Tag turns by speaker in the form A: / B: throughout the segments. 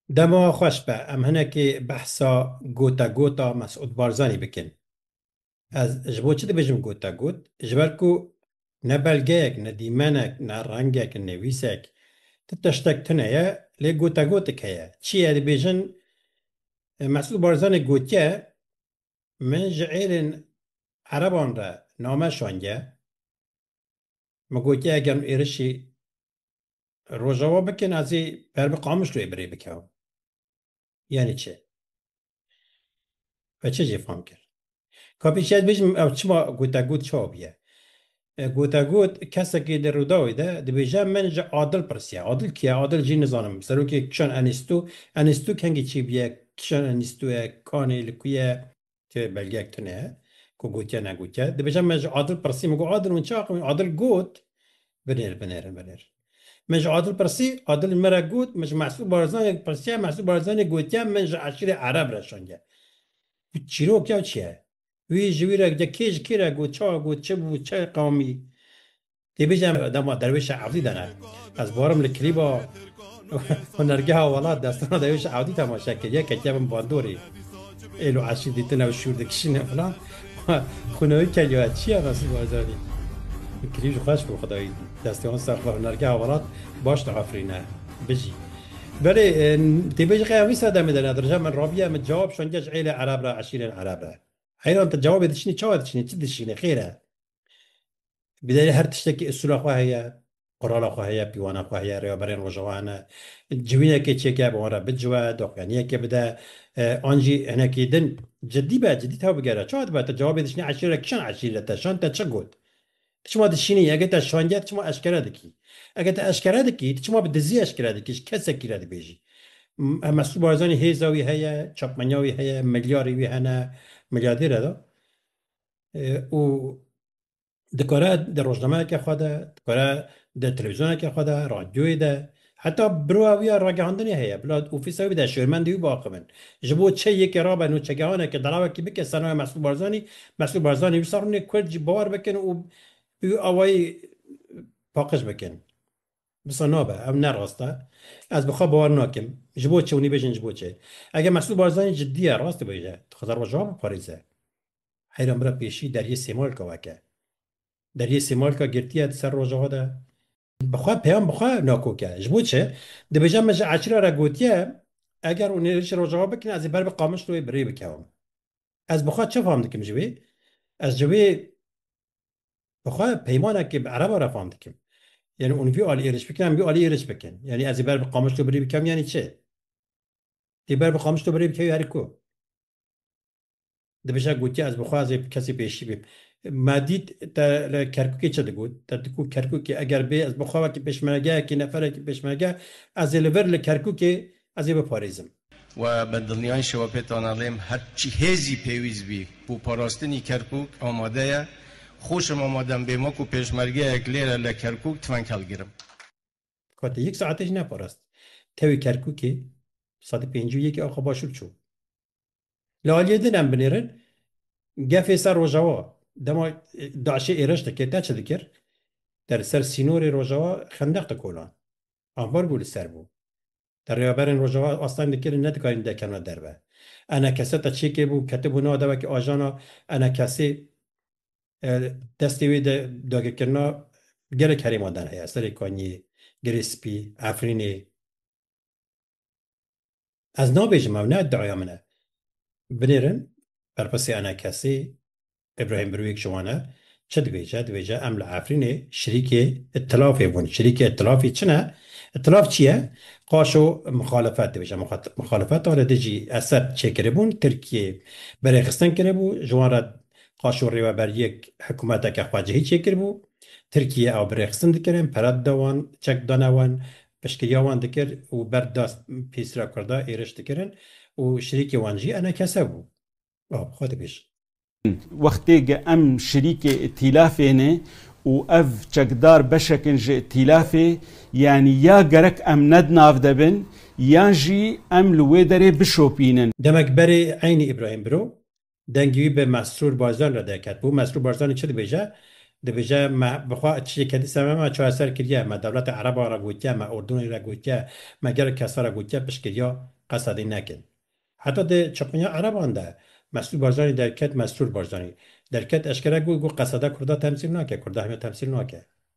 A: Dema xweş be em hinekê behsa gotegota Mesûd Barzanî bikin. Ez ji bo çi dibêjim gotegot? Ji ber ku ne belgeyek, ne dîmenek, ne rengek, nivîsek, ti tiştek tune ye, lê gotegotik heye. Çi ye? Dibêjin Mesûd Barzanî gotiye min ji êrên ereban re name şandiye. Min gotiye eger min êrişî Rojava bikin ez ê ber bi Qamişloyê birê bikeim. Yanî çi? Ve çi jê fam kir? Ka pêşî ez bêjim ew çima gotegot çawa bûye? Gotegot kesekî di Rûdawê de dibêje min ji Adil pirsiye. Adil kî ye? Adil jî nizanim. Serokê Kişan Enîstû. Enîstû kengî çi bûye? Kişan Enîstû ye? Kanê li ku ye? ke belgeyek tune ye ku gotiye negotiye. Dibêje me ji Adil pirsî, min got Adil hûn çi axivîn? Adil got binêr binêrin binêr. Min ji Adil pirsî, Adil min re got min ji Mesûd Barzanî pirsiye, Mesûd Barzanî gotiye min ji eşîrê Ereb re şangiye. Çîrok ya çi ye? Wî ji wî re kê ji kê re got, çawa got, çi bû, çi qamî? Tê bêje dema derwêşa ewdî de ne. Ez barim li klîba hunergeha welat destana derwêşa ewdî temaşe kir. Yeke kevim bandorê. Êlo eşî dîtine û şûr dikişîne filan. Xunewî ke yo çi ye Mesî Barzanî? Klîb ji xweş bû xwedayî destê wan ser xwe hunergeha welat baş diafirîne. Bijî. Belê tê bêje qeya wî sedemê de ne dirije min rabiye min cewab şandiye ji êlê ereb re eşîrên ereb re. Heyran tu cewabê diçinî çawa diçinî çi dişînî xêr e? Bi derê her tiştekî usûla xwe heye, qurala xwe heye, pîwana xwe heye, rêweberên Rojava hene. Civînekê çêke bi wan re biciwe, doxuyaniyekê bide, an jî hinekî din cidî be, cidî taw bigere. Çawa dibe te cewabê dişînî eşîrê re kîjan eşîrî re te şand te çi got? Ti çima dişînî ege te şandiye ti çima eşkere dikî? Ege te eşkere dikî ti çima bi dizî eşkere dikî ji kesekî re dibêjî. Mesûd Barzanî hêza wî heye, çapmenya wî heye, milyarê wî hene, milyardêr e da. û dikare di rojnameyeke xwe de, dikare di televîzyoneke xwe de, radyoyê de, heta birova wî ya ragihandinê heye, bila ofîsa wî bide şêrmendê wî biaxivin. Ji bo çi yekê rabe nûçegehaneke derawekî bike ser navê Mesrûr Barzanî, Mesrûr Barzanî wisa rûnê kurd jî bawer bikin û bi wî awayî paqij bikin. Wisa nabe, ew ne rast e. Ez bi xwe bawer nakim. Ji bo çi? Hûn ê bêjin ji bo çi? Eger Mesrûr Barzanî cidî ye, rast dibêje, dixwaze rojava biparêze. Heyranbira pêşî Deriyê Sêmalka weke. Deriyê Sêmalka girtiye di ser rojava de. Bi xwe peyam bi xwe nakoke. Ji bo çi? Dibêje min ji Eçira re gotiye eger hûn hêrişê rojava bikin ez ê ber bi Qamişloyê bi rê bikevim. Ez bi xwe çi fam dikim ji wê? Ez ji wê bi xwe peymanekê bi Ereba re fam dikim. Yanî hûn vî alî êriş bikin em vî alî êriş bikin. Yanî ez ê ber bi Qamişlo bi rê bikevim yanî çi? Dê ber bi Qamişlo bi rê bikevî herî ku. Dibije gotiye ez bixwazê bi kesî pêşî bim. Ma dît te li Kerkûkê çi digot. Te digot Kerkûkê eger bê ez bi xwe wekî pêşmergeyekî neferekî pêşmerge ez ê li vir li Kerkûkê ez ê biparêzim. We bi dilniyayîşê we pê tana lêm her çi hêzî pêwîst bî bo parastinî Kerkûk amade ye. Xweşim amade im bêm wekû pêşmergeyek lêre li Kerkûk tifeng hilgirim. Ka te yek saetê jî neparast tewî Kerkûkê, bi sedî pêncî û yekê axa başûr çû. Li aliyê din em binêrin gefê ser Rojawa dema DAIŞ'ê êriş dikir, te çi dikir? Te li ser sînorê Rojawa xendeq dikolan. Ambargo li ser bû. Te rêveberên Rojawa asteng dikirin nedikarîn dekevne derve. Enekese te çêkê bû ketibû nav de wekî ajana enekesê destê wê de dagirkirina gelek herêman der heye, Serê Kanyê, Girê Spî, Efrînê. Ez nabêjim ew ne iddiaya min e. Binêrin berpirsê enekesê Îbrahîm Birwîg ji wan e, çi dibêje? Dibêje em li Efrînê şirîkê îtilafê bûn. Şirîkê îtilafê çi ne? Îtilaf çi ye? Qaşo mixalefet dibêje. Mixalefeta li dijî Esed çêkiribûn, Tirkiyê berêxistin kiribû, ji wan re Qaşo rêweberiyek hikûmeteke xwecihî çêkiribû. Tirkiyê ew birêxistin dikirin, pere dide wan, çek didane wan, Piştgiriya wan dikir û ber da pîsra kurda êriş dikirin û şirîkê wan jî enekese bû. Bab, xwe dibêj. Wextê ge em şirîkê îtîlafê ne û ev çekdar beşek in ji îtîlafê, yanî ya gerek em ne di nav de bin yan jî em li wê derê bişopînin. Demek berê eynî Îbrahîm biro Dengê wî bi Mesrûr Barzanî re derket bû. Mesrûr Barzanî çi dibêje? Dibêje me bi xwe çiyê kedî ser me, me çareser kiriye, me dewleta ereban re gotiye, me ordûnê re gotiye, me gelek kesa re gotiye piştgiriya qesa dî nekin. Heta di çaxunya ereban de Mesrûr Barzanî derket Mesrûr Barzanî. Derket eşkere got, got qeseda kurda temsîl nake, kurda heme temsîl nake.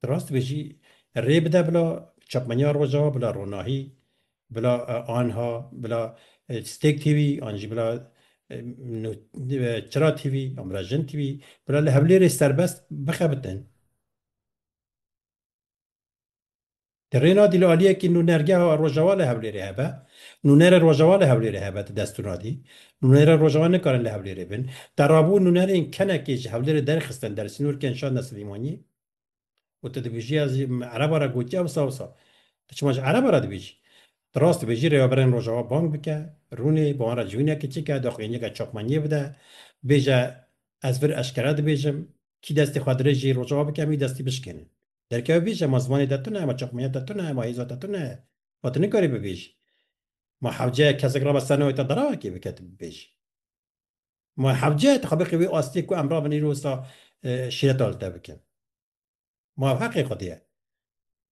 A: Ti rast dibê jî rê bide bila çapmeniya Rojava, bila ronahî, bila anha, bila stêk tîvî an jî bila çira tîvî an bila jin tîvî bila li Hewlêrê serbest bixebitin. Di rê nadî li aliyekî nûnergeha Rojhewa li Hewlêrê hebe, nûnerê Rojhewa li Hewlêrê hebe di dest û nadî. Nûnerê Rojhewa nikarin li Hewlêrê bin. Te rabû nûnerên kenekê ji Hewlêrê derxistin der sînor kên şandin Silîmaniyê û tu dibêjî ez ji ereba re gotî ewsa ewsa. Tu çima ji ereba re dibêjî? Tu rast dibêjî rêveberên Rojhewa bang bike, rûnê bi wan re civînekê çike, doqîneke çapmaniyê bide, bêje ez vir eşkere dibêjim, kî destê xwe dirêjî Rojhewa bike em wî destî bişkênin. Derkev bêje ma zimanê te tune ye, ma çaxmeyê te tune ye, ma hêza te tune ye. Ma tu nikarî bibêjî. Ma hewceyek kesek rabe ser navê te derawa kê bike tu bibêjî. Ma hewceyek tu xwe bixe wê astê ku em rabin îro wisa şîreta li te bikin. Ma ev heqê xwedê ye.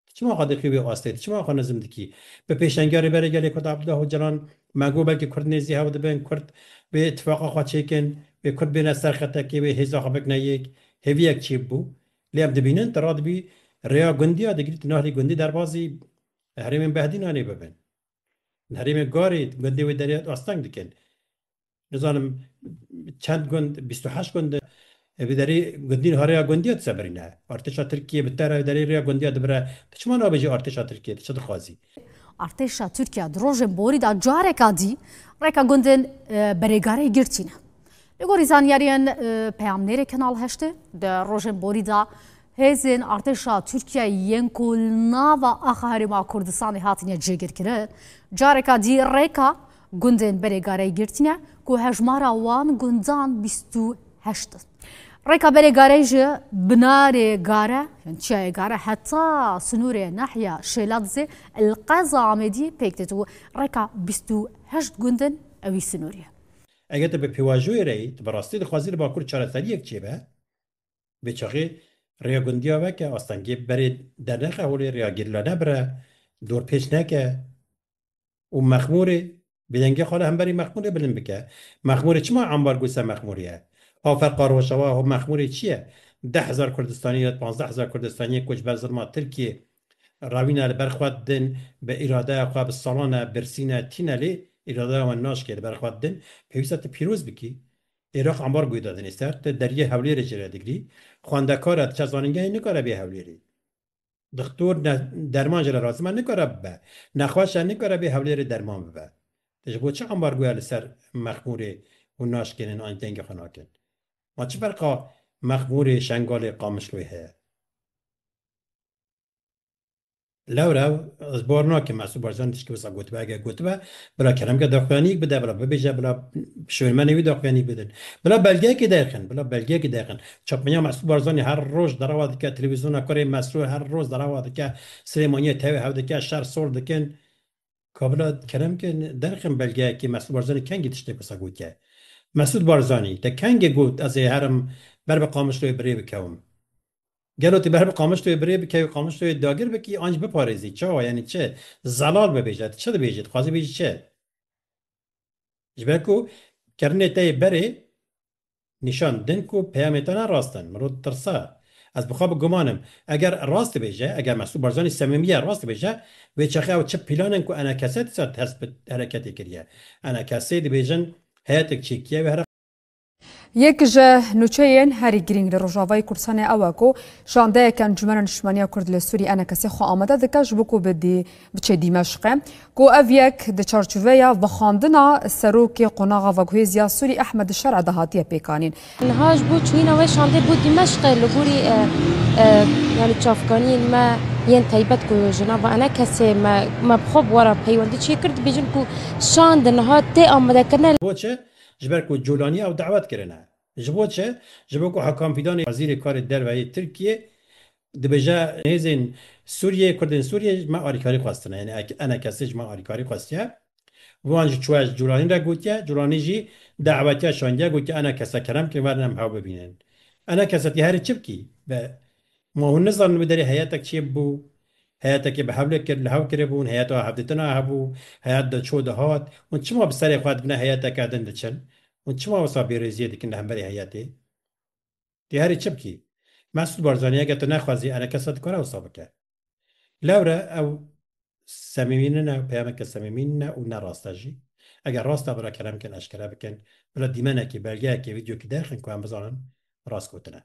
A: Tu çima xwe dixî wê astê, tu çima xwe nizm dikî. Bi pêşengiya Rêberê Gelê Kurd Abdullah Ocalan me got belkî Kurd nêzî hev dibin, Kurd wê îtîfaqa xwe çêkin, wê Kurd bêne ser xetekê, wê hêza xwe bikine yek. Hêviyek çêbû. Lê em dibînin tu radibî rêya gundî ya digrî tu nahlî gundî derbazî herêmên behdînanê bibin. Li herêmê Garê gundê wê derê asteng dikin. Nizanim çend gund bîst û heşt gund bi derê gundîn ha rêya gundî ya dise birîne. Artêşa Tirkiyê bi te re derê rêya gundî ya dibire tu çima nabêjî artêşa Tirkiyê tu çi dixwazî? Artêşa Tirkiya di rojên borî de careka dî rêka gundên Berêgareyê girtîne. Li gorî zanyariyên peyamnêrê Kenal Heştê di rojên borî de hêzên artêşa Tirkiyeyê yên ku li nava axa Herêma Kurdistanê hatine cêgirkirin, careka dî rêka Gundên berê gareyê girtîne ku hejmara wan gundan bîst û heşt in. Rêka berê gareyê ji binarê gare yên çiyayê gare heta sinûrê nahya Şêladizê li qeza Amêdî pêk têt û rêka bîst û heşt gund in ewî sinûrê ye. Eger tu bi pêvajoyê re yî, tu bi rastî dixwazî li Bakur çareseriyek çêbe, bêçaxê rêya gundiya veke, astengê berê dernexe holê, rêya gerîla nebire, dorpêç neke. û mexmûrê bi dengê xwe re hemberî mexmûrê bilind bike. Mexmûrê çima ambargo ser mexmûrê ye? A ferqa Rojawa ho mexmûrê çi ye? Deh hezar Kurdistanî red pazdeh hezar Kurdistanîyê koçber zilma Tirkîyê rawîne li ber xwe din bi îradeya xwe bi salan e birsîn e tîne lê îradeya wan naşkê li ber xwe din pêwîst e tu pîroz bikî Iraq ambargoyê da dinê ser tu deriyê Hewlêrê jê re digirî xwendekar e diçe zanîngehê nikare bê Hewlêrê. Doktor ne derman jî re razî ma nikare bibe. Nexweşa nikare bê hewlêrê derman bibe. Te ji bo çi ambargoya li ser mexmûrê hûn naşkênin an jî dengê xwe nakin? Ma çi ferqa mexmûrê Şengalê Qamişloyê heye? Lewre ez bar nakim Mesûd Barzanî tiştî wisa gotibe. Eger gotibe bila kelemeke daxuyanîk bide, bila bibêje, bila şûnmenê wî daxuyanîk bidin. Bila belgeyekê derxin, bila belgeyekê derxin. Çapmenya Mesrûr Barzanî her roj derewa dike televîzyona kurê Mesrûr her roj derewa dike Silêmaniyê tevê hev dike şer sol dikin Kabila kerem ke derxin belgeyekê Mesrûr Barzanî kengî tiştêk wisa gotiye Mesûd Barzanî te kengê got ez ê herim ber bi Qamişloyê birê bikewim gelo tu ber bi Qamişloyê birê bikewî Qamişloyê dagir bikî an jî biparêzî çawa yanî çi zelal bibêje tu çi dibêjî dixwazî bêjî çi. Ji ber ku kirinê te yê berê nîşan din ku peyamê te ne rast in. Min rû tirsa. Ez bi xwe bi guman im. Eger rast dibêje, eger Mesûd Barzanî semîmiye rast dibêje, wê çaxê ew çi pîlan in ku enakese dîsa dest bi hereketê kiriye. Enakesê dibêjin heyetek çêkiye wê Yek ji nûçeyên herî girîng li Rojavayê Kurdistanê ew e ku şandeyek Encûmena Niştimaniya Kurd li Sûriyê enekesê xwe amade dike ji bo ku biçe Dîmeşqê ku ev yek di çarçoveya vexandina serokê qonaxa veguhêziya Sûrî Ehmed Şer'e de hatiye pêkanîn. Niha ji bo çûyîna wê şandê bo Dîmeşqê li gorî yanî çavkaniyên me yên taybet ku ji nava enekesê me me bi xwe bi we re peywendî çêkir dibêjin ku şand niha tê amadekirine. Boçe Ji ber ku Colaniya ew dawet kirine. Ji bo çi? Ji bo ku Hakan Fîdanê wezîrê karê derve yê Tirkiyê dibêje hêzên Sûriyê, kurdên Sûriyê ji me alîkarî xwestine. Yanî ene kesê ji me alîkarî xwestiye. Wan jî çûye ji Colanî re gotiye. Colanî jî dawetiya şandiye gotiye ene kese kerem bikin werin em hew bibînin. Ene kesetî herî çi bikî bi Ma hûn nizanin wî derê heyetek çê bû? Heyetekê bi hevlê kir, li hev kiribûn, heyeta hevdîtina hebû, heyet diçû dihat, hûn çima bi serê xwe dibina heyeteke din diçin? Hûn çima wisa bêrêziyê dikin li hemberî heyetê? Tê herî çi bikî? Mesûd Barzanî eger tu nexwezî enekesa dikare wisa bike. Lewre ew semîmî nine, peyameke semîmî nine û ne rast e jî. Eger rast e bila kelem bikin, eşkere bikin, bila dîmenekê, belgeyekê, vîdyokê derxin ku em bizanin rast gotine.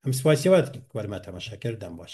A: Em spasiye we dikin ku we li me temaşe kir, dem baş.